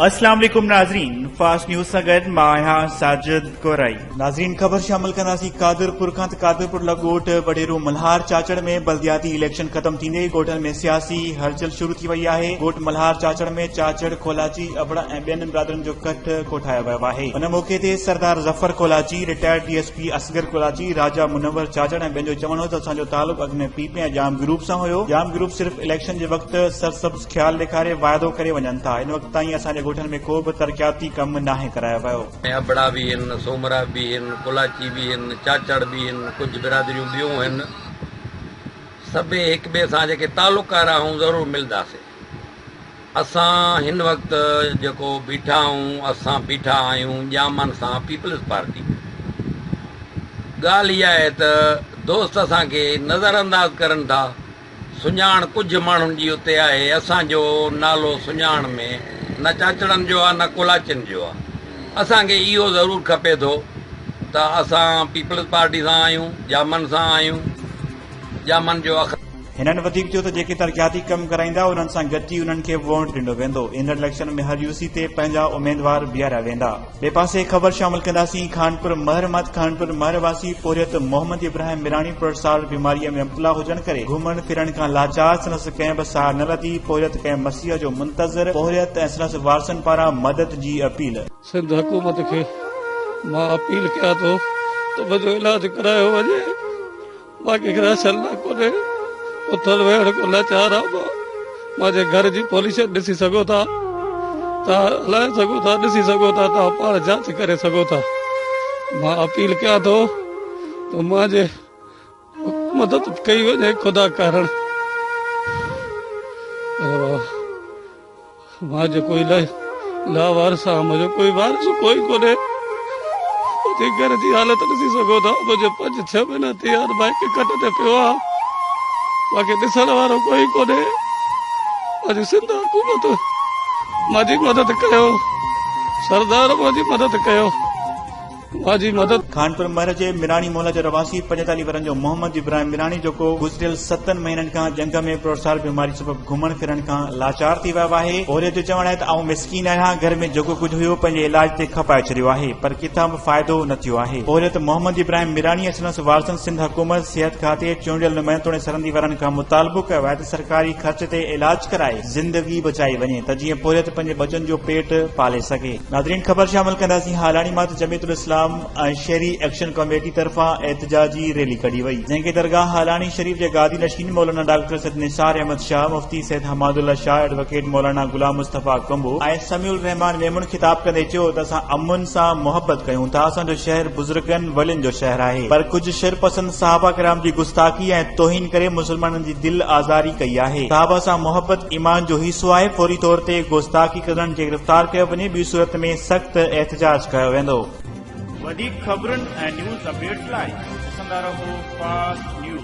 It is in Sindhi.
السلام عليڪم ناظرين فاسٽ نيوز سان گڏ مان آهيان ساجد گورائي ناظرين خبر شامل ڪنداسين قادر پور کان ته قادر پور لڳ ڳوٺ وڏيرو ملهار چاچڙ ۾ بلدياتي اليڪشن ختم ٿيندي ڳوٺن ۾ سياسي هلچل شروع ٿي وئي آهي ڳوٺ ملهار چاچڙ ۾ چاچڙ کولاچي ابڙا ۽ ٻين برادرين جو ڪٺ ڪوٺايو ويو آهي ان موقعي تي Sardar Zafar Kolachi retired D S Pir Asghar Karachi, Raja Munawar Chachar ۽ ٻين جو چوڻ هو ته اسان جو تعلق اڳ ۾ پي پي ۽ ڄام گروپ سان هيو، ڄام گروپ صرف اليڪشن جي وقت سرسبز خيال ڏيکاري واعدو ڪري وڃن ٿا، هن وقت تائين اسان جي ڳوٺن ۾ ڪو به ترقياتي ڪم ناهي ڪرايو ويو. ۾ ابڙا به هن، سومرا به هن، ڪولاچي به هن، چاچڙ به هن، ڪجهه برادريون ٻيون هن، سڀئي هڪٻئي سان جيڪي تعلقه رهائون ضرور ملنداسين. اسان هن وقت جيڪو بيٺا آهون اسان بيٺا آهيون ڄامن سان پيپلز پارٽي ۾. ڳالهه اها آهي ته دوست اسان کي نظر انداز ڪرن ٿا. سڃاڻ ڪجهه ماڻهن جي اتي آهي اسان جو نالو سڃاڻ ۾ نه چاچڙن جو آهي نه ڪولاچين جو آهي. اسان کي اهو ضرور کپي ٿو ته اسان پيپلز پارٽي سان آهيون ڄامن سان آهيون ڄامن جو اخ. هنن وڌيڪ چيو ته جيڪي ترقياتي ڪم ڪرائيندا انهن سان گڏجي انهن کي ووٽ ڏنو ويندو، ايندڙ اليڪشن ۾ هر يو سي تي پنهنجا اميدوار بيهاريا ويندا. ٻئي پاسي خبر شامل ڪنداسين خانپور مهر مان ته خانپور مهر واسي پورهيت محمد ابراهيم ميراڻي پرسارڙ بيماريء ۾ مبتلا هجڻ ڪري گهمڻ ڦرڻ کان لاچار سندس ڪنهن به ساهه نه لڌي پورهيت ڪنهن مسيح جو منتظر پورهيت ۽ سندس وارثن پاران مدد جي اپيل. سنڌ حڪومت کي مان اپيل ڪيان ٿو ته منهنجو علاج ڪرايو وڃي. مان ڪنهن کي رحشن نه ڪونهي اٿڻ ويهڻ ڪو لاچار آ مان مان جي گهر جي پوليشن ڏسي سگهو ٿا تان هلائي سگهو ٿا ڏسي سگهو ٿا تان پاڻ جانچ ڪري سگهو ٿا مان اپيل ڪيان ٿو ته مان جي مدد ڪئي وڃي خدا ڪارڻ مان جيڪو الائي لاوارث آهيان منهنجو ڪوئي وارث ڪوئي ڪونهي تنهنجي گهر جي حالت ڏسي سگهو ٿا منهنجو پنج ڇهه مهينا ٿي ويا مان هڪ کٽ تي پيو آهيان مان کي ڏسڻ وارو ڪوئي ڪونهي منهنجي سنڌ حڪومت منهنجي مدد ڪيو سردار منهنجي مدد ڪيو جي مدد. خانپور مهر جي ميراڻي محله جو رهواسي پنجيتاليهه ورهن جو محمد ابراهيم ميراڻي جيڪو گذريل ستن مهينن کان جهنگ ۾ پروسار بيماري سبب گهمڻ ڦرڻ کان لاچار ٿي ويو آهي اهريت جو چوڻ آهي ته آئون مسڪين آهيان گهر ۾ جيڪو ڪجهه هيو پنهنجي علاج تي کپائي ڇڏيو آهي پر ڪٿان به فائدو نه ٿيو آهي اهريت محمد ابراهيم ميراڻي ۽ سندس وارثن سنڌ حڪومت صحت کاتي چونڊيل نمائندو توڻي سرهندي وارن کان مطالبو ڪيو آهي ته سرڪاري خرچ تي علاج ڪرائي زندگي بچائي وڃي ته جيئن پورهيت پنهنجي ٻچن جو پيٽ پالي سگهي. ناظرين خبر شامل ڪنداسين هالاڻي مان ته جمعيت الاسلام ۽ شهري ايڪشن ڪميٽي طرفان احتجاجي ريلي ڪڍي وئي جنهن کي درگاهه هالاڻي شريف جي گادي نشين مولانا ڊاڪٽر سيد نثار احمد شاهه مفتي سيد حماد الله شاهه ايڊووڪيٽ مولانا غلام مصطفيٰ ڪنڀ ۽ سميع الرحمان ميمڻ خطاب ڪندي چيو ته اسان امن سان محبت ڪيون ٿا اسان جو شهر بزرگن ولين جو شهر آهي پر ڪجهه شرپسند صحابه ڪرام جي گستاخي ۽ توهين ڪري مسلمانن جي دل آزاري ڪئي آهي صحابه سان محبت ايمان جو حصو آهي فوري طور تي گستاخي ڪندڙن کي گرفتار ڪيو وڃي ٻي صورت ۾ سخت احتجاج ڪيو ويندو. وڌيڪ خبرن ۽ نيوز اپڊيٽس لاء ڏسندا رهو فاسٽ نيوز.